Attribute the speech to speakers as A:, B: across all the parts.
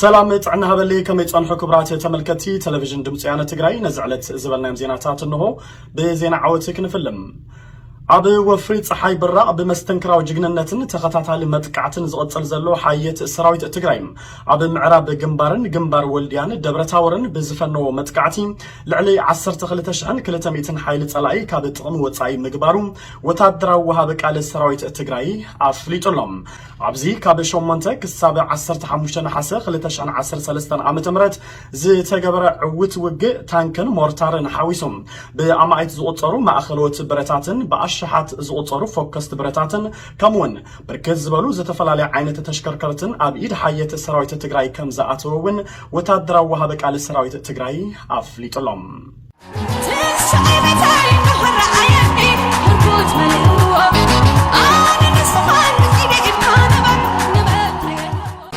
A: ሰላም ጥዕና ሃበለይ ከመይ ጸንሑ ክብራት ተመልከቲ ቴሌቪዥን ድምፂ ያነ ትግራይ ነዚ ዕለት ዝበልናዮም ዜናታት እንሆ ብዜና ዓወት ክንፍልም ኣብ ወፍሪ ፀሓይ ብራቕ ብመስተንክራዊ ጅግንነትን ተኸታታሊ መጥቃዕትን ዝቕፅል ዘሎ ሓየት ሰራዊት ትግራይ ኣብ ምዕራብ ግንባርን ግንባር ወልድያን ደብረታወርን ብዝፈነዎ መጥቃዕቲ ልዕሊ 12200 ሓይሊ ፀላኢ ካብ ጥቕሚ ወፃኢ ምግባሩ ወታደራዊ ወሃቢ ቃል ሰራዊት ትግራይ ኣፍሊጡ ኣሎ። ኣብዚ ካብ ሸሞንተ ክሳብ ዓሰርተ ሓሙሽተ ነሓሰ ክልተ ሽሕን ዓሰርተ ሰለስተን ዓመተ ምህረት ዝተገበረ ዕዉት ውግእ ታንክን ሞርታርን ሓዊሱ ብኣማኢት ዝቑጸሩ ማእኸሎት ብረታትን ብኣሽሓት ዝቑጸሩ ፎከስቲ ብረታትን ከምኡ'ውን ብርክት ዝበሉ ዝተፈላለየ ዓይነት ተሽከርከርትን ኣብ ኢድ ሓየት ሰራዊት ትግራይ ከምዝኣተወ እውን ወታደራዊ ወሃቢ ቃል ሰራዊት ትግራይ ኣፍሊጡ'ሎ።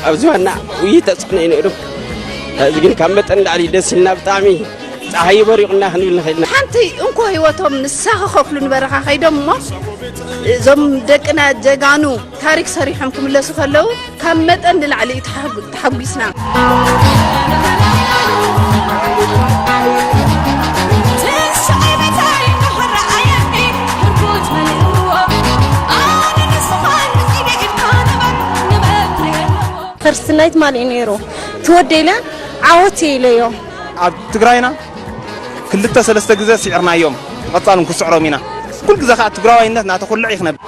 B: ኣብዚ ዋና ውይ ተፅዕኖ እዩ ነይሩ እዚ ግን ካብ መጠን ላዕሊ ደስ ኢልና ብጣዕሚ ፀሓይ በሪቑና ክንብል ንኽእል ኢና ሓንቲ እንኮ ህይወቶም
C: ንሳ ክኸፍሉ ንበረኻ ከይዶም እሞ እዞም ደቅና ጀጋኑ ታሪክ ሰሪሖም ክምለሱ ከለው ካብ መጠን ንላዕሊ እዩ ተሓጒስና።
D: ፈርስት ናይት ማን እዩ ነይሩ ትወደይለ ዓወት ኢለዮ ኣብ ትግራይና
E: ክልተ ሰለስተ ግዘ ሲዕርናዮም ብቀፃሉ ንክስዕሮም ኢና ኩሉ ግዘ ከዓ ትግራዋይነት ናተኩልዕ እዩ ክነብር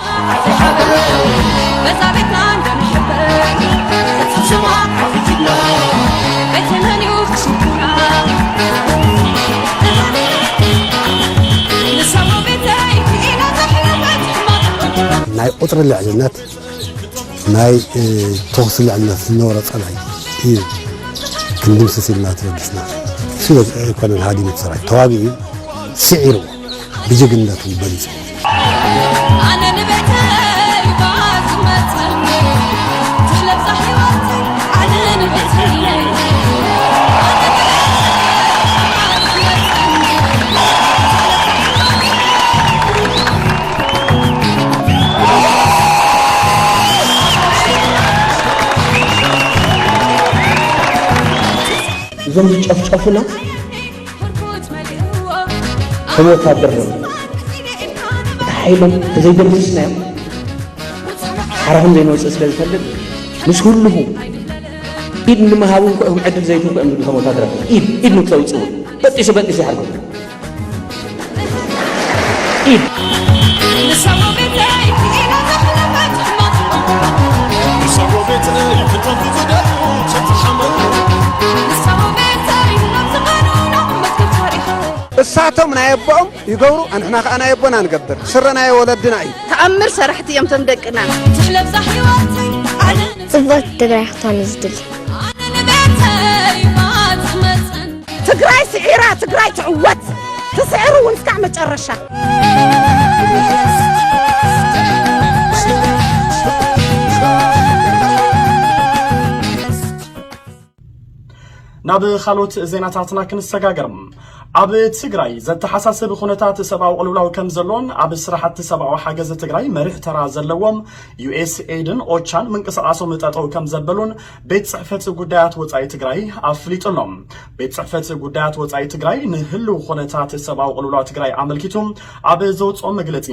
F: ናይ ቁፅሪ ልዕልነት ናይ ተኹሲ ልዕልነት ዝነበሮ ጸላኢ እዩ ክንድምስስ ኢልና ተበጊስና ስለ ኣይኮነን ሃዲሙ ሰራዊት ተዋጊኡ ስዒርዎ ብጅግንነቱ በሊጹ
G: እዞም ዝጨፍጨፉና ከም ወታደር ነ እቲ ሓይሎም ተዘይደምስስናዮም ሓራኹም ዘይንወፅእ ስለ ዝፈልጥ ምስ ኩልኹ ኢድ ንምሃብ እውን ክዕድል ዘይትንኩ እዮም ዝብሉ ከም ወታደራት ኢድ ኢድ ንክተውፅኡ በጢሱ በጢሱ ይሓርኩም
E: እሳቶም ናይ ኣቦኦም ይገብሩ ኣንሕና ከዓ ናይ ኣቦና ንገብር ስረ ናይ ወለድና እዩ ተኣምር ሰራሕቲ እዮም
C: ቶም ደቅና ትሕለብዛ
D: ሕይወተይ ዓለም ጽብቕቲ ትግራይ ክትኮን እዩ ዝድሊ ኣነ ንቤተይ ማት
C: መፅን ትግራይ ስዒራ ትግራይ ትዕወት ትስዕር እውን እስካዕ መጨረሻ
A: ናብ ካልኦት ዜናታትና ክንሰጋገር ኣብ ትግራይ ዘተሓሳስብ ኩነታት ሰብኣዊ ቅልውላው ከም ዘሎን ኣብ ስራሕቲ ሰብኣዊ ሓገዝ ትግራይ መሪሕ ተራ ዘለዎም ዩኤስኤድን ኦቻን ምንቅስቓሶም ጠጠው ከም ዘበሉን ቤት ጽሕፈት ጉዳያት ወጻኢ ትግራይ ኣፍሊጡ ኣሎ። ቤት ጽሕፈት ጉዳያት ወጻኢ ትግራይ ንህልው ኾነታት ሰብኣዊ ቅልውላው ትግራይ ኣመልኪቱ ኣብ ዘውጽኦ መግለጺ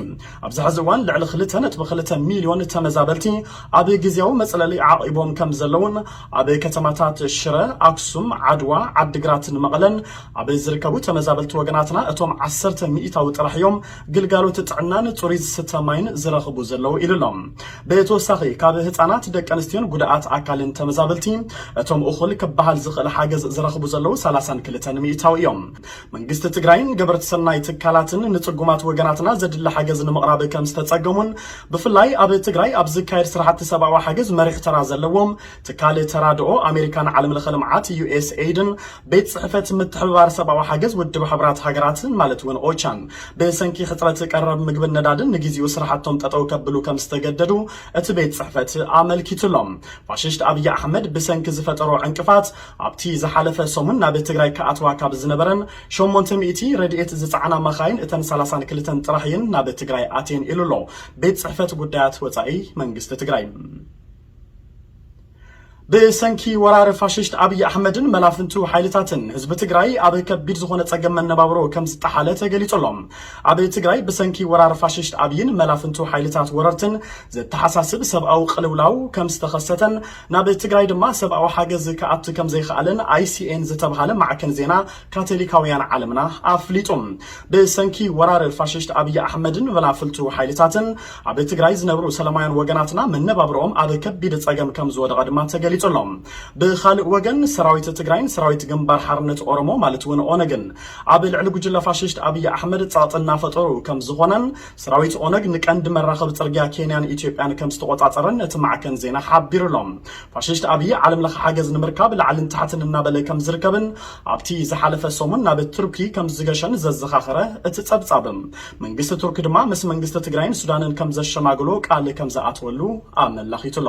A: ኣብዚ ሕዚ እዋን ልዕሊ ክልተ ነጥቢ ክልተ ሚልዮን ተመዛበልቲ ኣብ ግዝያዊ መጽለሊ ዓቒቦም ከም ዘለውን ኣብ ከተማታት ሽረ፣ ኣክሱም፣ ዓድዋ፣ ዓዲግራትን መቐለን ኣብ ዝርከቡ ተመዛበልቲ ወገናትና እቶም ዓሰርተ ሚኢታዊ ጥራሕ እዮም ግልጋሎት ጥዕናን ፅሩይ ዝስተ ማይን ዝረኽቡ ዘለዉ ኢሉ'ሎ። ብተወሳኺ ካብ ህፃናት፣ ደቂ ኣንስትዮን ጉዳኣት ኣካልን ተመዛበልቲ እቶም እኹል ክበሃል ዝኽእል ሓገዝ ዝረኽቡ ዘለዉ ሰላሳን ክልተን ሚኢታዊ እዮም። መንግስቲ ትግራይን ገበርቲ ሰናይ ትካላትን ንፅጉማት ወገናትና ዘድሊ ሓገዝ ንምቕራብ ከምዝተፀገሙን ብፍላይ ኣብ ትግራይ ኣብ ዝካየድ ስራሕቲ ሰብኣዊ ሓገዝ መሪሕ ተራ ዘለዎም ትካል ተራድኦ ኣሜሪካን ዓለምለኸ ልምዓት፣ USAID፣ ን ቤት ጽሕፈት ምትሕብባር ሰብኣዊ ሓገዝ ውድብ ሕቡራት ሃገራትን ማለት እውን ኦቻን ብሰንኪ ሕጽረት ቀረብ ምግብን ነዳድን ንግዜኡ ስራሕቶም ጠጠው ከብሉ ከም ዝተገደዱ እቲ ቤት ጽሕፈት ኣመልኪቱ ኣሎ። ፋሽስት ኣብዪ ኣሕመድ ብሰንኪ ዝፈጠሮ ዕንቅፋት ኣብቲ ዝሓለፈ ሰሙን ናብ ትግራይ ክኣትዋ ካብ ዝነበረን ሸሞንተ ሚእቲ ረድኤት ዝጸዓና መኻይን እተን ሰላሳን ክልተን ጥራሕ እየን ናብ ትግራይ ኣትየን ኢሉ ኣሎ ቤት ጽሕፈት ጉዳያት ወጻኢ መንግስቲ ትግራይ። ብሰንኪ ወራር ፋሽስት ኣብይ ኣሕመድን መላፍንቱ ሓይልታትን ህዝቢ ትግራይ ኣብ ከቢድ ዝኾነ ጸገም መነባብሮ ከም ዝጠሓለ ተገሊጹ ኣሎ። ኣብ ትግራይ ብሰንኪ ወራር ፋሽስት ኣብይን መላፍንቱ ሓይልታት ወረርትን ዘተሓሳስብ ሰብኣዊ ቅልውላው ከም ዝተኸሰተን ናብ ትግራይ ድማ ሰብኣዊ ሓገዝ ክኣቱ ከም ዘይኸኣለን ኣይሲኤን ዝተብሃለ ማዕከን ዜና ካቶሊካውያን ዓለምና ኣፍሊጡ። ብሰንኪ ወራር ፋሽስት ኣብይ ኣሕመድን ቨላፍልቱ ሓይልታትን ኣብ ትግራይ ዝነብሩ ሰለማውያን ወገናትና መነባብሮኦም ኣብ ከቢድ ፀገም ከምዝወደቐ ድማ ተገሊፁ ኣሎ። ብኻልእ ወገን ሰራዊት ትግራይን ሰራዊት ግንባር ሓርነት ኦሮሞ ማለት እውን ኦነግን ኣብ ልዕሊ ጉጅለ ፋሽስት ኣብይ ኣሕመድ ፀቕጢ እናፈጠሩ ከምዝኾነን ሰራዊት ኦነግ ንቀንዲ መራኸቢ ጽርግያ ኬንያን ኢትዮጵያን ከም ዝተቖጻጸረን እቲ ማዕከን ዜና ሓቢሩ'ሎ። ፋሽስት ኣብዪ ዓለም ለኸ ሓገዝ ንምርካብ ላዕልን ታሕትን እናበለ ከም ዝርከብን ኣብቲ ዝሓለፈ ሰሙን ናብ ቱርኪ ከም ዝገሸን ዘዘኻኸረ እቲ ጸብጻብ፣ መንግስቲ ቱርኪ ድማ ምስ መንግስቲ ትግራይን ሱዳንን ከም ዘሸማግሎ ቃል ከም ዝኣተወሉ ኣመላኺቱ'ሎ።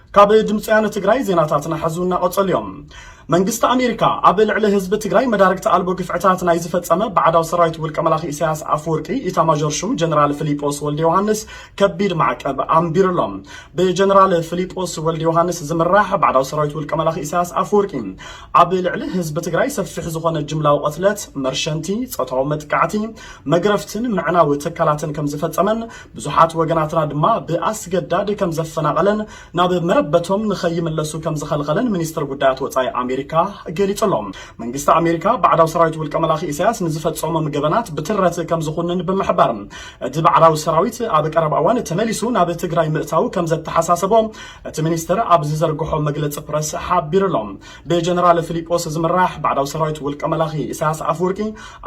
A: ካብ ድምፂ ወያነ ትግራይ ዜናታትና ሐዚ እናቐፀሉ እዮም። መንግስቲ ኣሜሪካ ኣብ ልዕሊ ህዝቢ ትግራይ መዳርግቲ ኣልቦ ግፍዕታት ናይ ዝፈፀመ ባዕዳዊ ሰራዊት ውልቀ መላኺ ኢሳያስ ኣፈወርቂ ኢታማዦር ሹም ጀነራል ፍሊጶስ ወልደ ዮሃንስ ከቢድ ማዕቀብ ኣንቢሩሎም። ብጀነራል ፍሊጶስ ወልደ ዮሃንስ ዝምራሕ ባዕዳዊ ሰራዊት ውልቀ መላኺ ኢሳያስ ኣፈወርቂ ኣብ ልዕሊ ህዝቢ ትግራይ ሰፊሕ ዝኾነ ጅምላዊ ቐትለት፣ መርሸንቲ፣ ፆታዊ መጥቃዕቲ፣ መግረፍትን ምዕናው ትካላትን ከም ዝፈፀመን ብዙሓት ወገናትና ድማ ብኣስገዳድ ከም ዘፈናቐለን ናብ መረበቶም ንኸይምለሱ ከም ዝኸልኸለን ሚኒስተር ጉዳያት ወጻኢ ኣሜሪካ ገሊጹ ኣሎ። መንግስቲ ኣሜሪካ ባዕዳዊ ሰራዊት ውልቀ መላኺ ኢሳያስ ንዝፈጸሞም ገበናት ብትረት ከም ዝኹንን ብምሕባር እቲ ባዕዳዊ ሰራዊት ኣብ ቀረባ እዋን ተመሊሱ ናብ ትግራይ ምእታዉ ከም ዘተሓሳሰቦ እቲ ሚኒስተር ኣብ ዝዘርግሖ መግለጺ ፕረስ ሓቢሩ ኣሎ። ብጀነራል ፍሊጶስ ዝምራሕ ባዕዳዊ ሰራዊት ውልቀ መላኺ ኢሳያስ ኣፍወርቂ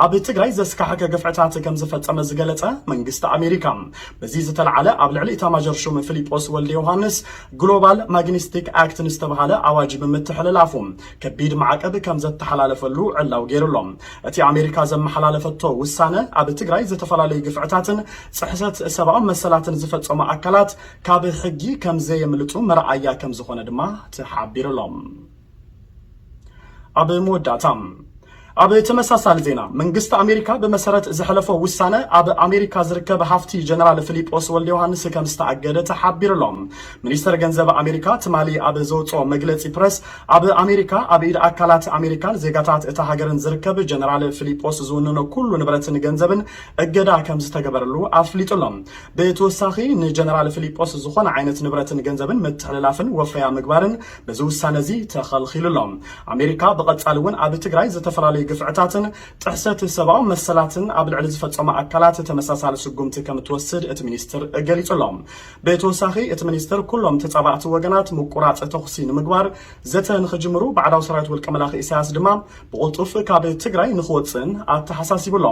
A: ኣብ ትግራይ ዘስካሕከ ግፍዕታት ከምዝፈጸመ ዝገለጸ መንግስቲ ኣሜሪካ በዚ ዝተልዓለ ኣብ ልዕሊ ኢታማዦር ሹም ፍሊጶስ ወልደ ዮሃንስ ግሎባል ማግኒስቲክ ኣክት ንዝተብሃለ ኣዋጅ ብምትሕልላፉ ከቢድ ማዕቀብ ከምዘተሓላለፈሉ ዕላው ገይሩ ኣሎ። እቲ ኣሜሪካ ዘመሓላለፈቶ ውሳነ ኣብ ትግራይ ዝተፈላለዩ ግፍዕታትን ጽሕሰት ሰብኣዊ መሰላትን ዝፈጸሙ ኣካላት ካብ ሕጊ ከምዘየምልጡ መርኣያ ከምዝኾነ ድማ ተሓቢሩ'ሎ። ኣብ መወዳእታ ኣብ ተመሳሳሊ ዜና መንግስቲ ኣሜሪካ ብመሰረት ዘሕለፎ ውሳነ ኣብ ኣሜሪካ ዝርከብ ሃፍቲ ጀነራል ፊሊጶስ ወልደ ዮሃንስ ከም ዝተኣገደ ተሓቢሩ ኣሎ። ሚኒስተር ገንዘብ ኣሜሪካ ትማሊ ኣብ ዘውፅኦ መግለፂ ፕረስ ኣብ ኣሜሪካ ኣብ ኢድ ኣካላት ኣሜሪካን ዜጋታት እታ ሃገርን ዝርከብ ጀነራል ፊሊጶስ ዝውንኖ ኩሉ ንብረትን ገንዘብን እገዳ ከም ዝተገበረሉ ኣፍሊጡ ኣሎ። ብተወሳኺ ንጀነራል ፍሊጶስ ዝኾነ ዓይነት ንብረትን ገንዘብን ምትሕልላፍን ወፈያ ምግባርን በዚ ውሳነ እዚ ተኸልኺሉ ኣሎ። ኣሜሪካ ብቐጻሊ እውን ኣብ ትግራይ ዝተፈላለዩ ግፍዕታትን ጥሕሰት ሰብኣዊ መሰላትን ኣብ ልዕሊ ዝፈጸሙ ኣካላት ተመሳሳሊ ስጉምቲ ከም እትወስድ እቲ ሚኒስትር ገሊጹ ኣሎ። ብተወሳኺ እቲ ሚኒስትር ኩሎም ተጻባእቲ ወገናት ምቁራጽ ተኹሲ ንምግባር ዘተ ንኽጅምሩ ባዕዳዊ ሰራዊት ውልቀ መላኺ ኢሳያስ ድማ ብቕልጡፍ ካብ ትግራይ ንኽወጽእን ኣተሓሳሲቡ ኣሎ።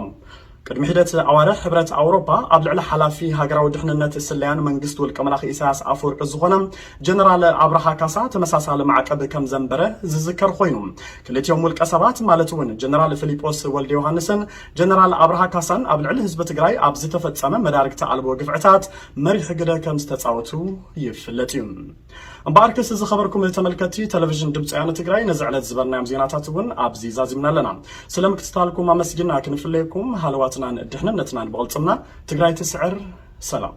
A: ቅድሚ ሒደት ኣዋርሕ ሕብረት ኣውሮፓ ኣብ ልዕሊ ሓላፊ ሃገራዊ ድሕንነት ስለያን መንግስቲ ውልቀመላኺ ኢሳያስ ኣፈወርቂ ዝኾነ ጀነራል ኣብርሃ ካሳ ተመሳሳሊ ማዕቀብ ከም ዘንበረ ዝዝከር ኾይኑ ክልቲኦም ውልቀሰባት ማለት እውን ጀነራል ፍሊጶስ ወልደዮሃንስን ጀነራል ኣብርሃ ካሳን ኣብ ልዕሊ ህዝቢ ትግራይ ኣብ ዝተፈፀመ መዳርግቲ ኣልቦ ግፍዕታት መሪሕ ግደ ከም ዝተፃወቱ ይፍለጥ እዩ። እምበኣርከስ ዝኸበርኩም ተመልከትቲ ተለቪዥን ድምፂ ወያነ ትግራይ ነዚ ዕለት ዝበልናዮም ዜናታት እውን ኣብዚ ዛዚምና ኣለና። ስለ ምክትታልኩም ኣመስጊና ክንፍለየኩም ሃለዋትናን ድሕንነትናን ብቕልፅምና ትግራይ ትስዕር። ሰላም